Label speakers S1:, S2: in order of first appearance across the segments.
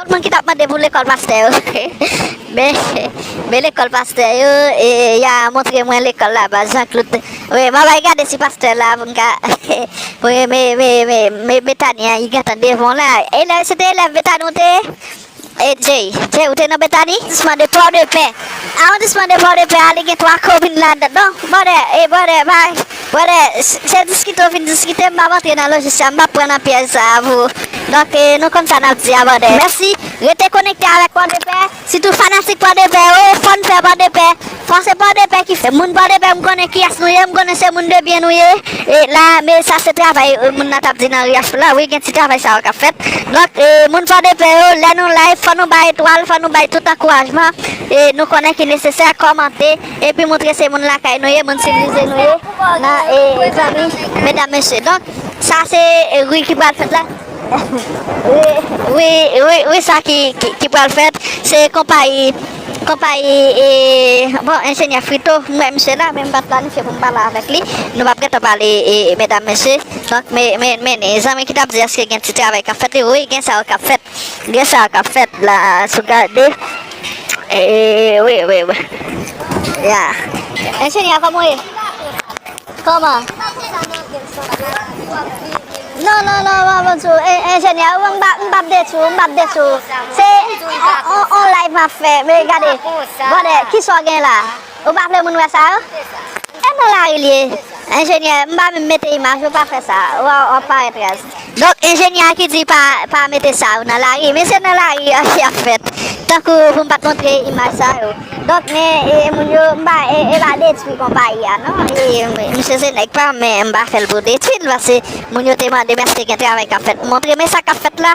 S1: Tout moun ki tap mande pou lekòl pastè yo men lekòl pastè yo ya montre mwen lekòl la baz Jean Claude wi map al gade si pastè la poum ka wi men Betania li gentan devan la elèv se te elèv Betania ou te ye Jay Jay ou te nan Betania arondisman de pòdepè arondisman de pòdepè a li gen 3 komin ladann non brother e brother pa Brother, se diskite ou vin diskite, m pap antre nan lojisya, m pap pran nan pyèj sa a pou Donk nou konn sa nap di a brother. Mèsi, rete konekte avèk pòdepè, sitou fanatik pòdepè yo, fòn fè pòdepè, fò se pòdepè ki fè, moun pòdepè m konnen kiyès nou ye, m konnen se moun de byen nou ye, e la men sa se travay moun nan tap di nan Riachpoul la wi, gen ti travay sa yo kap fèt, donk moun pòdepè yo lè nou live fò nou bay etwal, fò nou bay tout ankourajman nou konnen ki nesesè, kòmante. Epi montre se moun lakay nou ye, moun sivilize nou ye, nan e zanmi medam mesye. Donk, sa se ri ki pral fèt la. Ri, ri, ri sa ki, ki pral fèt, se konpayi, konpayi e, bon, enjenyè Frito, m wè misye la, men m pa t planifye pou m pale avèk li. Nou p ap gentan pale e, medam mesye. Donk, me, me, men, zanmi ki t ap di èske gen ti travay k ap fèt li, wi, gen sa yo k ap fèt, gen sa yo k ap fèt la, si w gade. Eh oui, oui, oui. Ya. Enjenyè, kòman ou ye? Kòman? Non, non, non, mwen mwen tou. Enjenyè, mwen mba, mba bde tou, mba bde tou. Se, on, on, on live map fè. Men gade, gade, kisa ou gen la? Ou pa vle moun wè sa yo? E nan lari l ye? Enjenyè, M pa menm mete imaj yo, pa fè sa. Waw, wap parèt raz. Donk enjenyè a ki di pa mete sa yo nan lari. Men se nan lari a ki ap fèt. Tankou pou m pat montre imaj sa yo. Donk men moun yo, m pa e pa detwi konpayi a non. Misye se nèg pa m men m pa fè l pou detwi l. Pase moun yo te mande m eske gen travay kap fèt. M montre men sa kap fèt la.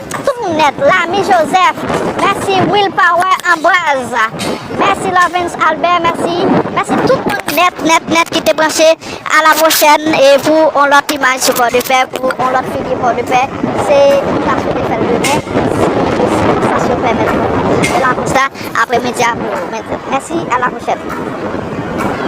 S1: Tout moun nèt la mi Joseph mèsi Will power Ambroise mèsi Lovens Albert mèsi mèsi tout moun nèt nèt nèt ki te branche a la pwochèn e pou on lòt imaj sou pò de pè pou on lòt figi pò de pè se nou ta swete fèl demen si disponsasyon pèmèt nou la konsa apremidi a pou mèsi a la pwochèn.